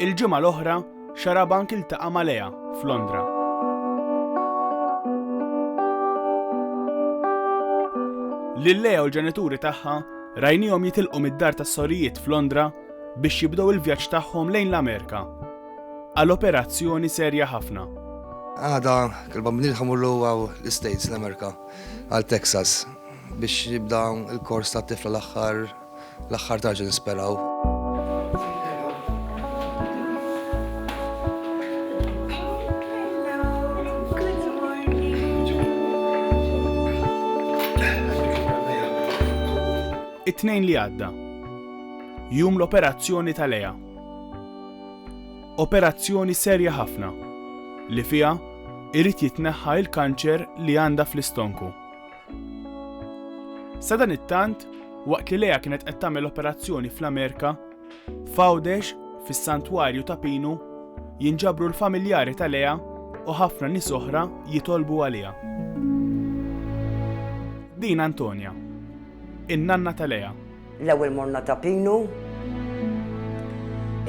Il-ġimgħa l-oħra, Xarabank iltaqa' ma' Lea f'Londra. Lil Lea u l-ġenituri tagħha rajnihom jitilqu mid-dar tas-sorijiet f'Londra biex jibdew il-vjaġġ tagħhom lejn l-Amerika għal operazzjoni serja ħafna. Għada, kelba bnil ħamur l-għaw l-Istates, l-Amerika, għal Texas. Biex jibda l-kors ta' tifla l-aħħar l-aħħar tarġi nisperaw. it-tnejn li għadda. Jum l-operazzjoni tal-EA. Operazzjoni serja ħafna li fiha irrid jitneħħa il-kanċer li għandha fl-istonku. Sadanittant, waqt li Lea kienet qed tagħmel operazzjoni fl-Amerika, f'Għawdex, fis-Santwarju ta' Pinu, jinġabru l-familjari ta' Lea u ħafna nies oħra jitolbu għaliha. Din Antonia, in-nanna ta' Lea, L-ewwel morna ta' Pinu.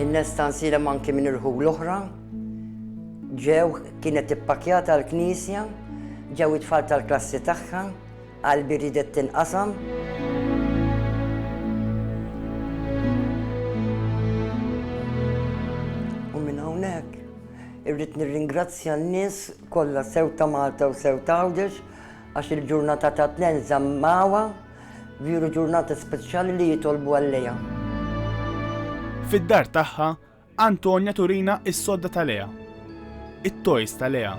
Innesta nsielem anki minn irħu l-oħra. Ġew, kienet ippakjata l-knisja, ġew it-tfal tal-klassi tagħha, qalbi riedet tinqasam. U minn hawnhekk irrid nirringrazzja n-nies kollha sew ta' Malta u sew ta' Għawdex għax il-ġurnata tat-Tnejn żammawha. Viru ġurnata speċjali li jitolbu għal-Lea. Fid-dar tagħha, Antonja turina is-sodda ta' Lea, it-toys ta' Lea,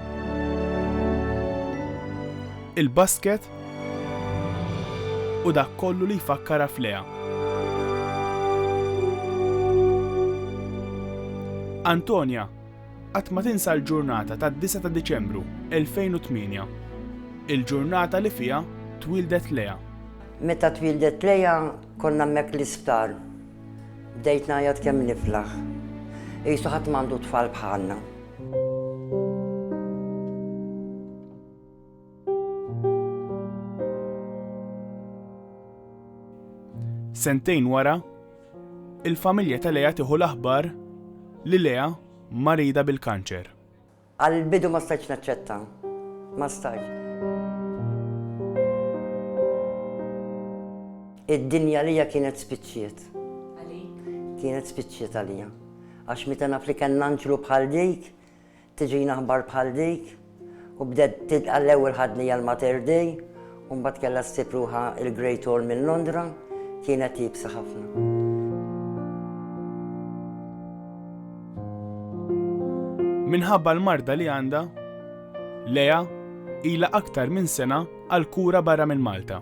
il-basket u dak kollu li jfakkarha f'Lea. Antonja Qatt ma tinsa l-ġurnata tad-9 ta' Diċembru 2008, il-ġurnata li fiha twieldet Lea. Meta twieldet Lea konna hemmhekk l-isptar. Bdejt ngħajjat kemm niflaħ. Qisu ħadd m'għandu tfal bħalna. Sentejn wara, il-familja ta' Lea tieħu l-aħbar li Lea marida bil-kanċer. Għall-bidu ma stajtx naċċetta. Ma stajtx. Id-dinja lija kienet spiċċiet. Kienet spiċċiet għalija. Għax meta naf li kien anġlu bħal dik, tiġina aħbar bħal dik u bdiet tidqa' l-ewwel ħadni għal Mater Dei u mbagħad kellha ssib ruħha il-Great Hall minn Londra kienet iebsa ħafna. Minħabba l-marda li għandha, Lea ila aktar minn sena għal kura barra minn Malta.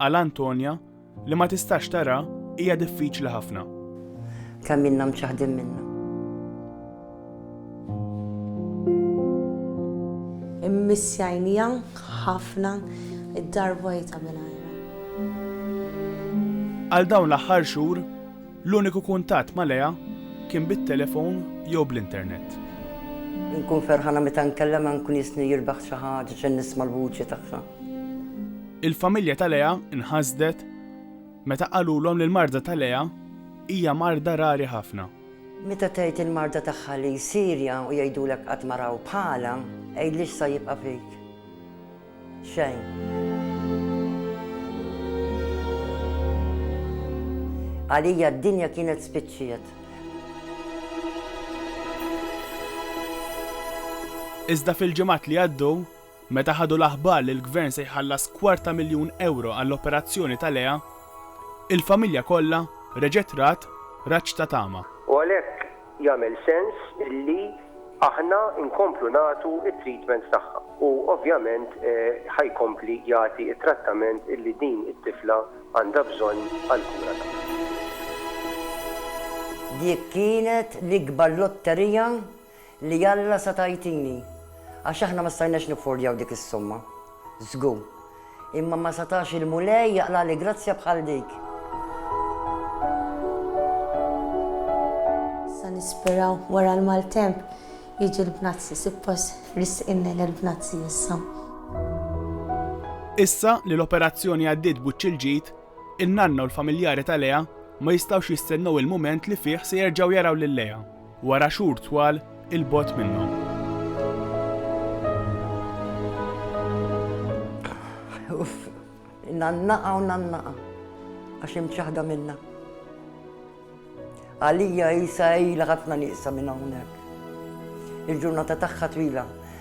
Għal Antonia, li ma tistax tara, hija diffiċli ħafna. Kemm ilna mċaħħdin minnha. Immissjajnija ħafna id-dar vojta mingħajra. Għal dawn l-aħħar xhur, l-uniku kuntatt ma' Lea kien bit-telefon jew bl-internet. Nkun ferħana meta nkellem nkun jisni jirbaħ xi ħaġa ġen nisma' l-vuċi tagħha. Il-familja ta' Lea nħasdet meta qalulhom li l-marda ta' Lea hija marda rari ħafna. Meta tgħid il-marda tagħha li Sirja u jgħidulek qatt ma raw bħalha, għidli x'sa jibqa' fik. Xejn. Għalija d-dinja kienet spiċċiet. Iżda fil-ġimgħat li għaddew, Meta ħadu l-aħbar li l-Gvern se jħallas kwarta miljun ewro għall-operazzjoni ta' Lea, il-familja kollha reġgħet rat raġġ ta' tama. U għalhekk jagħmel sens illi aħna nkomplu nagħtu t-treatments tagħha. U ovvjament ħa jkompli jagħti t-trattament illi din it-tifla għandha bżonn għall-kura tagħha. Dik kienet l-ikbar lotterija li Alla sa tagħtini, għax aħna ma stajnax niffordjaw dik is-somma, żgur, imma ma setax il-Mulej jaqlagħli grazzja bħal dik. Sa nisperaw wara l-maltemp jiġi l-bnazzi, suppost risqinna l-bnazzi issa. Issa li l-operazzjoni għaddiet buċċ il-ġid, in-nanna u l-familjari ta' Lea ma jistgħux jistennew il-mument li fih se jerġgħu jaraw lil Lea. Wara xhur twal 'il bogħod minnhom. Uff, nannaqa u nannaqa, għax imċaħda minna. Għalija jisa ila ħafna nieqsa minn hawnhekk. Il-ġurnata tagħha twila,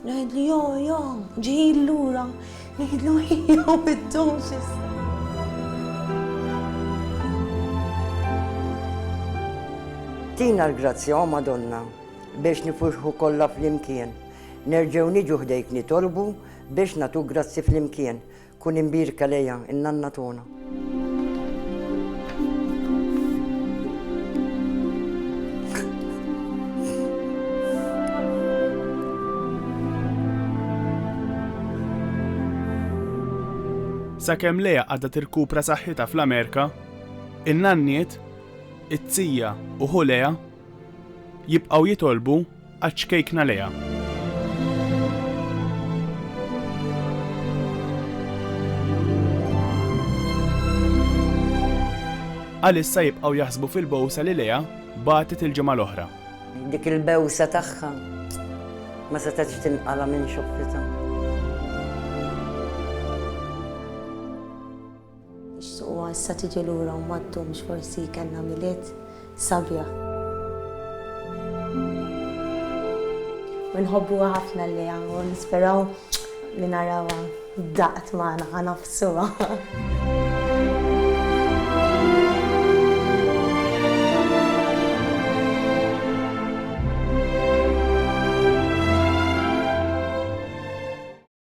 Ngħidlu jo jo, ġejjin lura, ngħidlu jo biddum xi Tina l-grazzja, o Madonna, biex nifurħu kollha flimkien. Nerġgħu niġu ħdejk nitolbu biex nagħtuk grazzi flimkien. Kun imbierka lejha, in-nanna togħna. Sakemm Lea għadha tirkupra saħħitha fl-Amerika, in-nanniet, it-tija u ħu Lea Jibqgħu jitolbu għaċ-ċkejkna lejha. Għalissa jibqgħu jaħsbu fil-bowsa li lejha bagħtet il-ġimgħa l-oħra. Dik il-bewsa tagħha ma setgħetx tinqala' minn xoppitha. Ixtiequha issa tiġi lura u ma ddumx forsi kellna Milied sabiħ. U nħobbuha ħafna l-Lea u nisperaw li narawha daqt magħna ħa nafsuha.